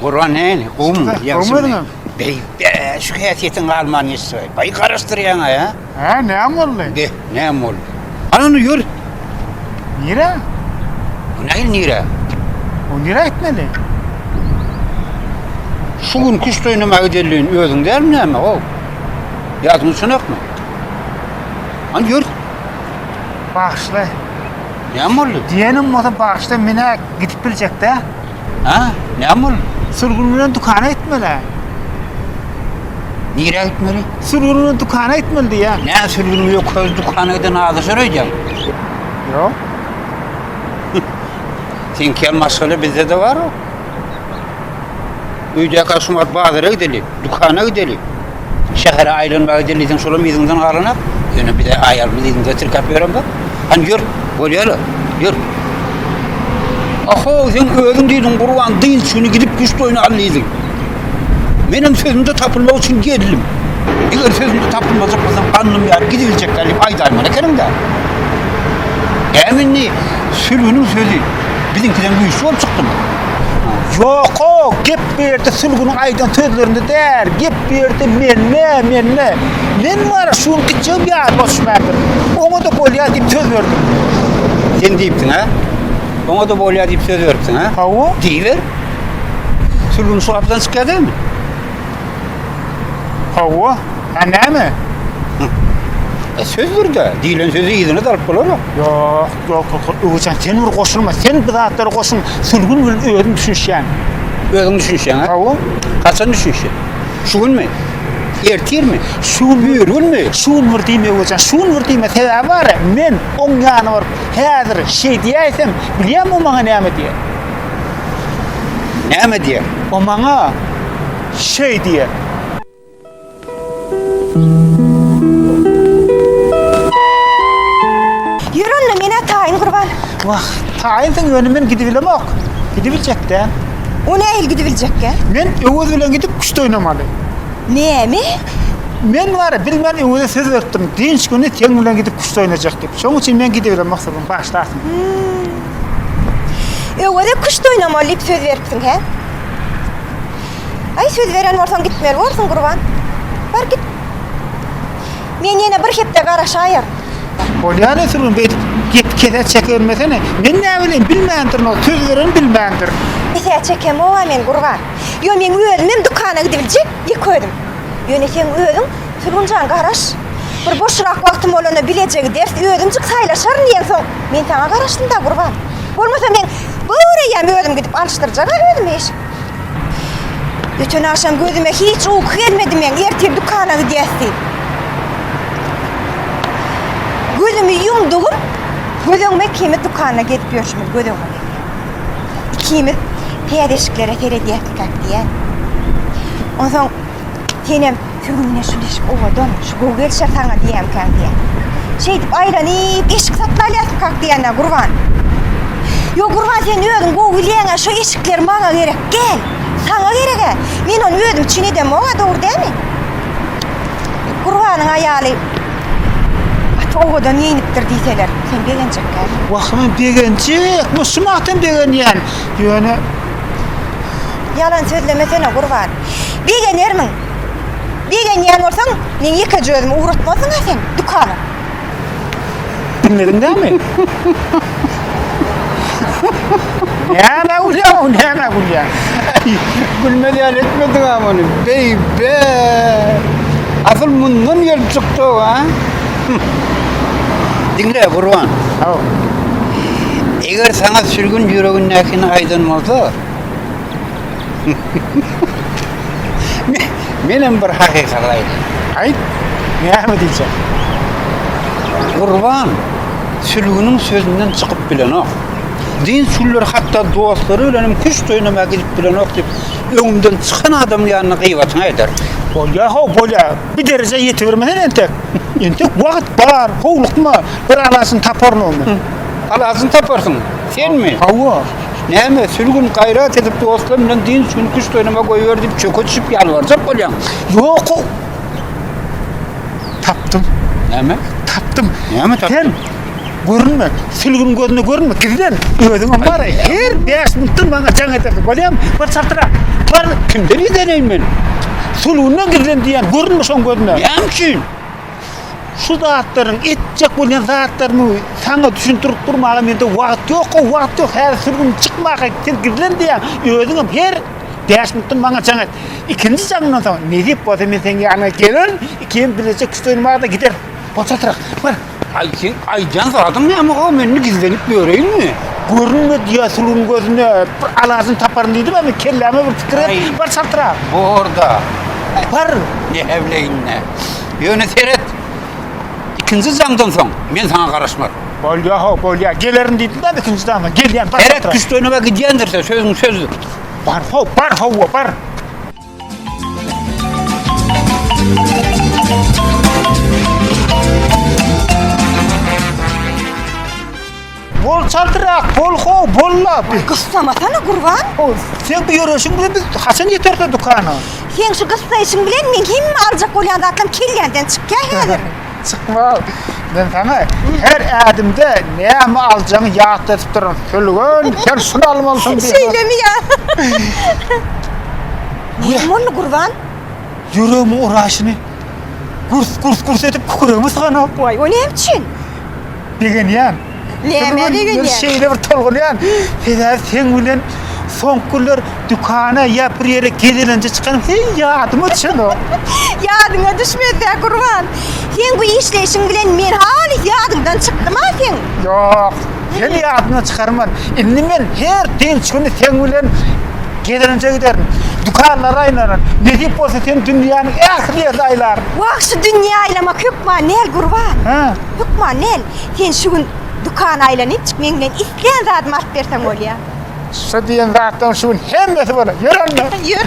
Gurban näni? Gum, ýagşymy? Beý, şu häsiýetiň galman ýeşse. Baý garaşdyrýaň-a ýa? Hä, näm boldy? Be, näm boldy? Alany ýör. Nire? Nähili nire? O nire gitmeli? Şu gün küşt oýnama gidelin özüň dälmi näme o? Ýadyňa düşenokmy? An ýör. Bagşla. Näm boldy? Diýenim bolsa bagşla menä gidip biljek-dä. Hä? Näme boldy? Sürgün bilen dükana gitmeli. Nirä gitmeli? Sürgün bilen dükana gitmeli diýä. Nä sürgün bilen köz dükana giden azy şöreýjäň? Ýok. Sen kel maşgala bizde de bar o. Öýdäki aşumat bazara gideli, dükana gideli. Şähere aýlanmaga dilidiň şolam yzyňdan galanok. Ýöne bize aýalymyz yzyňda tirkäp ýören bor. Han ýör, bolýar-la, ýör. Ahow, sen özüň diýdiň, Gurban, dynç güni gidip güş toýuny al diýdiň. Menem sözümde tapylmak üçin geldim. Eger sözümde tapylmajak bolsam, gandym ýaryp gidibiljek däl diýip aýdaýmaly ekeniň-dä. Äm indi sülgüniň sözi biziňkiden güýçli bolup çykdymy? Ýok-o, gep bu ýerde Sülgüniň aýdan sözlerinde däl, gep bu ýerde mende, mende. Men wara şu gün gitjegim ýaly bolşuberdi. Oňa-da bolýar diýip söz berdim. Sen diýipsiň, hä? Oňa-da bolýar diýip söz beripsiň, hä? Hawa. Diýiber. Sülgün şu gapydan çykýar dälmi? Hawa. Hä näme? E, söz bir-de. Diýlen sözi yzyna-da alyp bolar-a. Ýok. Ýok ýok ýok Öwezjan sen bir goşulma sen bu zatlara goşulma sülgün bilen özüm düşünişýän. Özüň düşünişýäň-a? Hawa. Haçan düşünişýäň? Şu günmi? Ertirmi? Şu gün bir günmi? Şu gün bir diýme Öwezjan şu gün bir diýme sebäbi bar men oň ýanyna baryp häzir şeý diýäýsem bilýäňmi o maňa näme diýer? Näme diýer? O maňa şeý diýer. Ýör onda menä taýyn gurban. Wah, taýyn sen ýöne gidibilemok. Gidibiljek dä. O nähili gidibiljekkä? Men Öwez bilen gidip küşt oýnamaly. Näme? Men wara bilmän Öweze söz beripdim. Dynç güni seň bilen gidip küşt oýnajak diýip. Şoň üçin men gidibilemok sözümi bagşlarsyň. Öweze küşt oýnamaly diýip söz beripsiň hä? Aý söz beren bolsaň gitmeli borsuň gurban. Bar git. Men ýene bir hepde garaşaýar. Bolýany sürgün beýdip gep kese çekebilmesene. Men näbileýin bilmändirin ol söz beren bilmändir. Kesä çekemowa men gurban. Ýo meň özümem dükana gidibiljek ýeke özüm. Ýöne seň özüň Sülgünjan garaş. Bir boşrak wagtym bolanda bileje gideris özümjik saýlaşaryn diýen soň men saňa garaşdymda gurban. Bolmasa men göreýem özüm gidip alyşdyrjaga özüme eşik. Bütün akşam gözüme hiç uyku gelmedi men. Ertir dükana gidýäs diýip. Gözümi ýumdugym, göz öňüme ikimiz dükana gezip ýörşümiz göz öňüme gelýär. Ikimiz täze eşiklere seredýäs diýýän. Onsoň Senem sürgüne şu leşik owadan, şu gowy gelişer saňa diýemkäň diýýä. Şeýdip aýran iýip, eşik satyn alýarsyk kak diýende Gurban. Ýok Gurban sen özüň gowy bilýäň, şu eşikler maňa gerek, gel. Saňa gereg-ä. Men ony özüm üçin edemok-a, dogry dälmi? Gurbanyň aýaly gaty owadan geýnipdir diýseler, sen begenjekkä? Wah, men begenjek, men şu magtam begenýän. Ýöne Ýalan sözlemesene Gurban. Begenermiň. Begenýän bolsaň, meň ýekeje özümi ugratmarsyň-a sen dükana. Diňlediň näme? Nämä gülýäň-ow, nämä gülýäň? Gülmez ýaly etmediň-ä muny. Beý-be! Asyl mundan gelip çykdy-ow, a? Diňle, Gurban. Haw. Eger saňa sürgün ýüregindäkini aýdan bolsa, Men hem bir hakykat aýdaýyn. Aýt. Näme diýjek? Gurban sülgüniň sözünden çykyp bilenok. Din sülgüleri hatda dostlary bilen hem küşt oýnamaga gidip bilenok diýip, öňümden çykan adamyň ýanyna gybatyňy eder. Bolýa, ho, bolýa. Bir derejä ýetibermesen entek. Entek wagt bar, howlukma. Bir alaçyny taparyn onda. Alaçyny taparsyň. Senmi? Hawa. Näme, sülgün, gaýrat edip dostlaryň bilen dynç güni küşt oýnama goýber diýip çöke düşüp ýalbarjak bolýaň? Ýok-ow. Tapdym. Näme? Tapdym. Näme tapdyň? Sen görünme, sülgüniň gözüne görünme, gizlen. Özüňem bar-a, her bäş minutdan maňa jaň edersiň, bolýamy? Bar çaltyra, bar! Kimden gizleneýin men? Sülgünden gizlen diýýän, görünme şoň gözüne. Näme üçin? Şu zatlaryň etjek bolýan zatlarymy saňa düşündirip durmaga mende wagt ýok, o wagt ýok. Häzir sürgün çykmaka sen gizlen diýýän. Özüňem her bäş minutdan maňa jaň et. Ikinji jaňymdan soň, nesip bolsa men seniň ýanyňa gelerin, ikimiz birleje küşt oýnamaga da gideris. Bol çatrak, bar! Aý, seň aýdýan zadyň näme-ow, men indi gizlenip ýöreýinmi? Görünme diýýä sürgün gözüne, bir alajyny taparyn diýdim, indi kelläme bir pikir et, bar çatrak! Bor-da! Bar! Nähäwleýin-dä! Ýöne seret, ikinji jaňdan soň men saňa garaşmaryn. Bolýar, ho, bolýar. Gelerin diýdim-de ikinji jaňdan. Gelýän, bar. Seret, güçlenige gidýändirse, sözüň sözdür. Bar, ho, bar, hawa, bar. Bol çaltyrak, bol how, bolla. Gyssamasana Gurban. How, sen bu ýöreşiň bilen biz haçan ýeteris o dükana? Seň şu gyssaýşyň bilen meň hemme aljak bolýan zatlarym kellämden çykýar häzir. Çykmaz. Men saňa her ädimde näme aljagyňy ýatladyp duraryn. Sülgün, sen şuny almalysyň diýip. Şeýlemi ýa? Näme boldy Gurban? Ýüregimiň uraşyny gürs, gürs, gürs edip küküregime sygan-a. Waý, o näme üçin? Begenýän. Näme begenýän? Men şeýle bir tolgunýan. Hezar sen bilen soňky günler dükana ýa bir ýere gezelenje çykan, heý ýadyma düşenok. Ýadyňa düşmese gurban. Sen bu işleýşiň bilen men halys ýadymdan çykdym-a seň. Ýok. Seni ýadymdan çykarman. Indi men her dynç güni sen bilen gezelenje giderin. Dükanlara aýlanan. Nesip bolsa sen dünýäniň ähli ýerini aýlaryn. Wah şu dünýä aýlamak hökman nel gurban. Hä? Hökman nel. Sen şu gün dükany aýlanypjyk meň bilen islän zadymy alyp berseň bolýa. Şu diýen zatdan şu gün hemmesi bolar. Ýör onda. Ýör.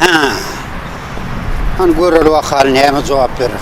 Hä. Hany görer wakaly näme jogap berer.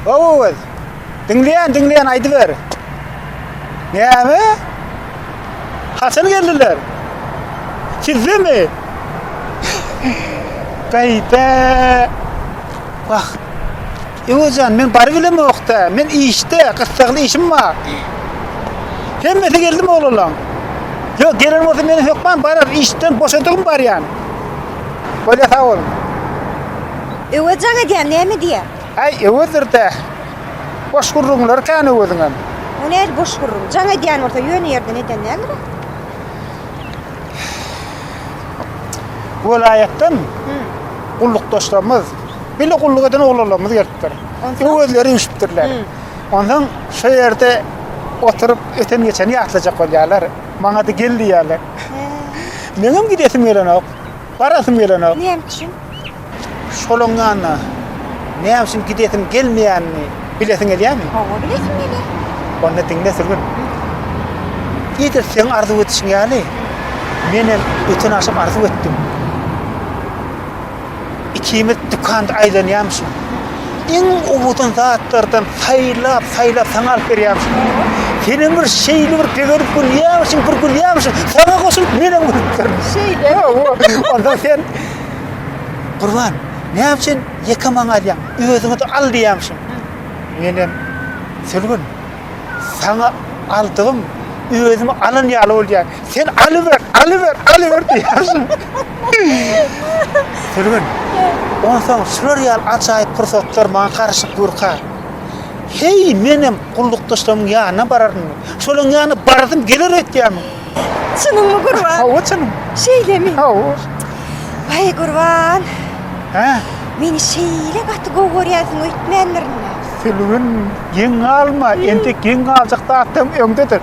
Owaz. Diňleýän, diňleýän aýdyber. Näme? Haçan geldiler? Sizdemi? Gaýda. Wah, Ewe jan, men bary bilemok-da, men işde, gyssagly işim bar. Hemmesi geldimi oglalaň? Ýok, gelen bolsa meni hökman barar, işden boşadygym barýan. Bolýa, sag boluň. Ewe jan edýär, näme diýýär? Äý, Ewedir-dä. Boş gürrüňleri kän Öweziňem. O nädip boş gürrüň? Jan edýän bolsa, ýöne ýerden eden däldir-ä? Welaýatdan gullukdaşlarymyz, bile gulluk eden oglanlarymyz gelipdir. Öwezleri üýşüpdirler. Ondan şu ýerde oturyp öten geçeni ýatlajak bolýarlar. Maňa-da gel diýýärler. Meňem gidesim gelenok. Barasym gelenok. Näme üçin? Şolaň ýanyna näme üçin gidesim gelmeýänini bilesiň gelýärmi? Hawa, bilesim gelýär. Onda diňle sürgün. Edil seň arzuw edişiň ýaly, men hem öten agşam arzuw etdim. Ikimiz dükanda aýlanýarmyşyň. iň owadan zatlardan saýlap, saýlap saňa alyp berýämiş. Senem bir şeýle bir begenip gülýämişiň, bir gülýämişiň, saňa goşulyp menem gülüpdir. Şeýle. Onda sen Gurban, näme üçin ýeke maňa alýaň? Özüňe-de al diýýämişiň. Menem Sülgün, saňa aldygym özüme alan ýaly bolýar. Sen alyber, alyber, alyber diýersiň. Sülgün. Onsoň şular ýaly ajaýyp pursatlar maňa garyşyp durka. Heý, menem gullukdaşlarymyň ýanyna bararyn. Şolaryň ýanyna barasym geler öýtýärmiň? Çynyňmy, Gurban? Hawa, çynym. Şeýlemi? Hawa. Waý, Gurban. Hä? Meni şeýle gaty gowy görýänsiň öýtmändirin-le? Sülgün, geň galma, entek geň galjak zatlaryň öňdedir.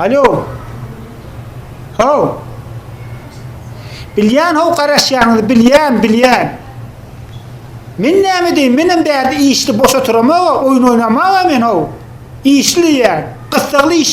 Alo. Ho. Bilýän ho garaşýanyňyzy bilýän, bilýän. Men näme diýin, men hem bärde işli boş oturamaga, oýun oýnamaga men ho. Işli diýýän, gyssagly iş.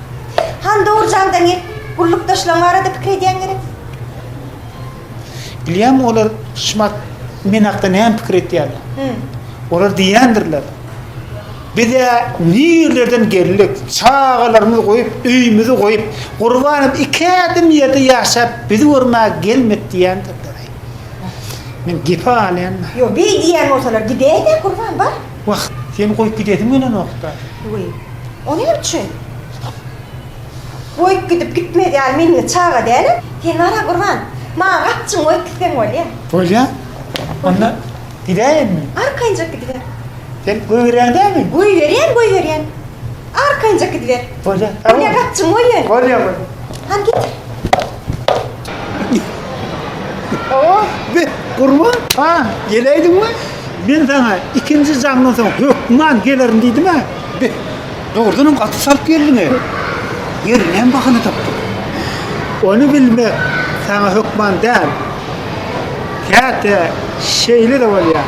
Han dogry jaňda ne gullukdaşlaň barada pikir edýäň gerek? Bilýämi olar Şmart men hakda näme pikir etýärler? Hü. Olar diýýändirler. Biz-ä nirlerden geldik, çagalarymyzy goýup, öýümizi goýup, Gurbanem iki ädim ýerde ýaşap, bizi görmäge gelmedi diýýändirler. Men gepi alýanma. Ýok, beý diýýän bolsalar gidäý-de, Gurban, bar. Wah, seni goýup gidesim gelenokda. Wiý, o näme üçin? Goýup gidip gitmez ýaly men indi çaga dälem. Sen bar-a, Gurban, maňa gapjygyňy goýup gitseň bolýa. Bolýa. Onda gidäýenmi? Arkaýynjak gidiber. Sen goýberýäň dälmi? Goýberýän, goýberýän. Arkaýynjak gidiber. Bolýa. Bolýa, gapjygyňy goý ýöne. Bolýa, bolýa. Hany git. Awa, be, gurban, ha, geleýdiň mi? Men saňa ikinji jaňdan soň hökman gelerin diýdim-ä. Be, dogrudanam gaty çalt geldiň-e. Ýerinem bahana tapdyň. Ony bilmek saňa hökman däl. Käte şeýle-de bolýar.